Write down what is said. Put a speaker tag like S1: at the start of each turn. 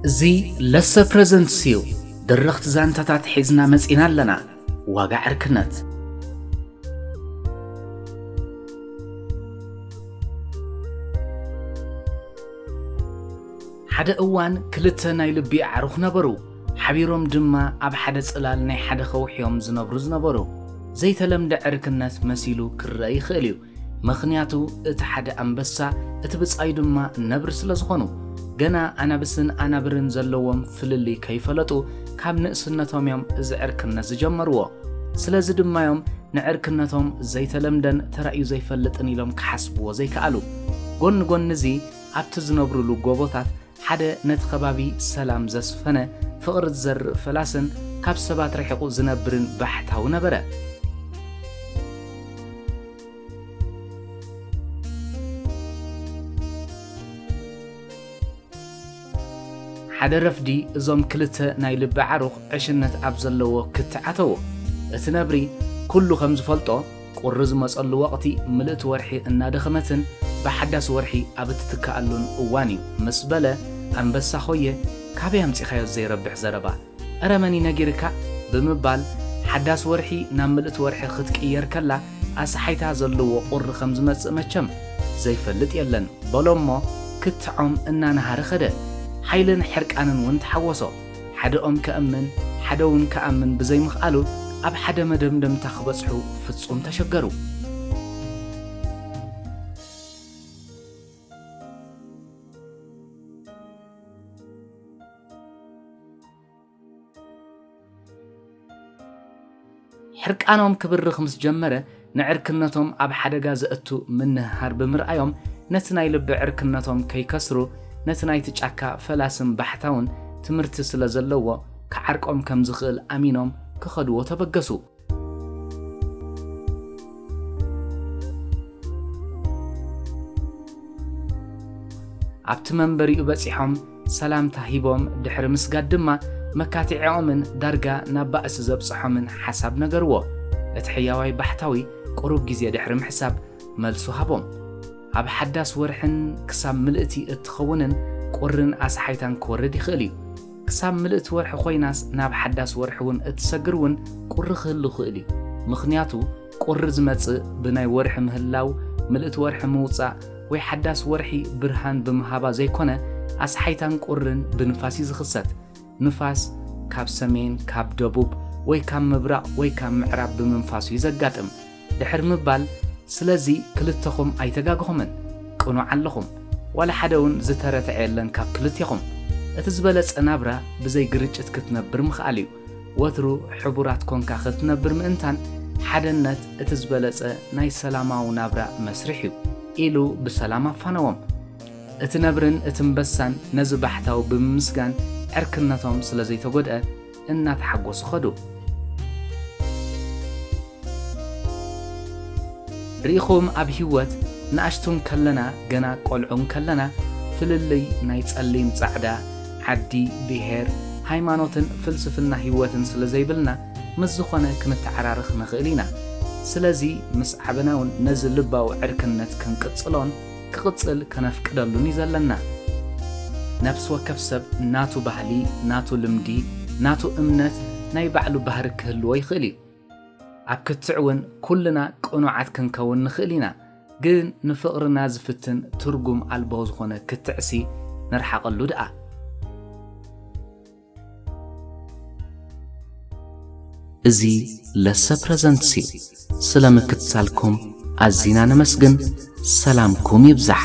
S1: እዚ ለሰ ፕረዘንትስ እዩ። ድርኽቲ ዛንታታት ሒዝና መጺና ኣለና። ዋጋ ዕርክነት ሓደ እዋን ክልተ ናይ ልቢ ኣዕሩኽ ነበሩ፣ ሓቢሮም ድማ ኣብ ሓደ ጽላል ናይ ሓደ ኸውሒ'ዮም ዝነብሩ ዝነበሩ። ዘይተለምደ ዕርክነት መሲሉ ክረኣ ይኽእል'ዩ፣ ምኽንያቱ እቲ ሓደ ኣንበሳ እቲ ብጻዩ ድማ ነብሪ ስለ ዝኾኑ። ገና ኣናብስን ኣናብርን ዘለዎም ፍልልይ ከይፈለጡ ካብ ንእስነቶም'ዮም እዚ ዕርክነት ዝጀመርዎ። ስለዚ ድማ'ዮም ንዕርክነቶም ዘይተለምደን ተራእዩ ዘይፈልጥን ኢሎም ክሓስብዎ ዘይከኣሉ። ጎኒ ጎኒ'ዚ። ኣብቲ ዝነብሩሉ ጎቦታት ሓደ ነቲ ከባቢ ሰላም ዘስፈነ፣ ፍቕሪ ዝዘርእ ፈላስን ካብ ሰባት ርሒቑ ዝነብርን ባሕታዊ ነበረ። ሓደ ረፍዲ እዞም ክልተ ናይ ልቢ ዓሩኽ ዕሽነት ኣብ ዘለዎ ክትዕ ኣተዉ። እቲ ነብሪ ኩሉ ከም ዝፈልጦ፣ ቁሪ ዝመጸሉ ወቕቲ ምልእቲ ወርሒ እናደኸመትን ብሓዳስ ወርሒ ኣብ እትትካኣሉን እዋን እዩ ምስ በለ ኣንበሳ ኾየ ካበይ ኣምጺኻዮ ዘይረብሕ ዘረባ እረ መን እዩ ነጊርካ ብምባል ሓዳስ ወርሒ ናብ ምልእቲ ወርሒ ክትቅየር ከላ ኣስሓይታ ዘለዎ ቁሪ ከም ዝመጽእ መቸም ዘይፈልጥ የለን በሎ እሞ ክትዖም እናነሃረ ኸደ ሓይልን ሕርቃንን እውን ተሓወሶ ሓደ ኦም ከእምን ሓደውን ክኣምን ብዘይምኽኣሉ ኣብ ሓደ መደምደምታ ክበጽሑ ፍጹም ተሸገሩ። ሕርቃኖም ክብርኽ ምስ ጀመረ፣ ንዕርክነቶም ኣብ ሓደጋ ዘእቱ ምንህሃር ብምርኣዮም፣ ነቲ ናይ ልቢ ዕርክነቶም ከይከስሩ፣ ነቲ ናይቲ ጫካ ፈላስን ባሕታውን ትምህርቲ ስለ ዘለዎ፣ ክዓርቆም ከም ዝኽእል ኣሚኖም ክኸድዎ ተበገሱ። ኣብቲ መንበሪኡ በጺሖም፣ ሰላምታ ሂቦም ድሕሪ ምስጋድ ድማ መካትዒኦምን ዳርጋ ናብ ባእሲ ዘብጽሖምን ሓሳብ ነገርዎ። እቲ ሕያዋይ ባሕታዊ ቁሩብ ግዜ ድሕሪ ምሕሳብ መልሱ ሃቦም። ኣብ ሓዳስ ወርሕን ክሳብ ምልእቲ እትኸውንን ቁርን ኣስሓይታን ክወርድ ይኽእል እዩ። ክሳብ ምልእቲ ወርሒ ኮይናስ ናብ ሓዳስ ወርሒ'ውን እትሰግር እውን ቁሪ ክህሉ ይኽእል እዩ። ምኽንያቱ ቁሪ ዝመጽእ ብናይ ወርሒ ምህላው፣ ምልእቲ ወርሒ ምውጻእ ወይ ሓዳስ ወርሒ ብርሃን ብምሃባ ዘይኮነ ኣስሓይታን ቁርን ብንፋስ እዩ ዝኽሰት። ንፋስ ካብ ሰሜን፣ ካብ ደቡብ ወይ ካብ ምብራቕ ወይ ካብ ምዕራብ ብምንፋሱ እዩ ዘጋጥም። ድሕሪ ምባል ስለዚ ክልተኹም ኣይተጋገኹምን። ቅኑዕ ኣለኹም። ዋላ ሓደ እውን ዝተረተዐ የለን ካብ ክልቴኹም። እቲ ዝበለጸ ናብራ ብዘይ ግርጭት ክትነብር ምኽኣል እዩ። ወትሩ ሕቡራት ኮንካ ክትነብር ምእንታን ሓደነት እቲ ዝበለጸ ናይ ሰላማዊ ናብራ መስርሕ እዩ ኢሉ ብሰላም ኣፋነዎም። እቲ ነብርን እቲ እምበሳን ነዚ ባሕታዊ ብምምስጋን ዕርክነቶም ስለዘይተጎድኣ እናተሓጎሱ ከዱ። ርኢኹም ኣብ ሂወት ንኣሽቱ እንከለና ገና ቆልዑ እንከለና ፍልልይ ናይ ጸሊም ጻዕዳ፣ ዓዲ፣ ብሄር፣ ሃይማኖትን ፍልስፍና ሂወትን ስለ ዘይብልና ምስ ዝኾነ ክንተዓራርኽ ንኽእል ኢና። ስለዚ ምስ ዓበና ውን ነዚ ልባዊ ዕርክነት ክንቅጽሎን ክቕጽል ከነፍቅደሉን ዩ ዘለና። ነብሲ ወከፍ ሰብ ናቱ ባህሊ፣ ናቱ ልምዲ፣ ናቱ እምነት ናይ ባዕሉ ባህሪ ክህልዎ ይኽእል ዩ። ኣብ ክትዕ እውን ኩልና ቅኑዓት ክንከውን ንኽእል ኢና፣ ግን ንፍቕርና ዝፍትን ትርጉም ኣልቦ ዝኾነ ክትዕሲ ንርሓቐሉ ድኣ። እዚ ለሰ ፕረዘንትስ እዩ። ስለ ምክትታልኩም ኣዚና ነመስግን፣ ሰላምኩም ይብዛሕ።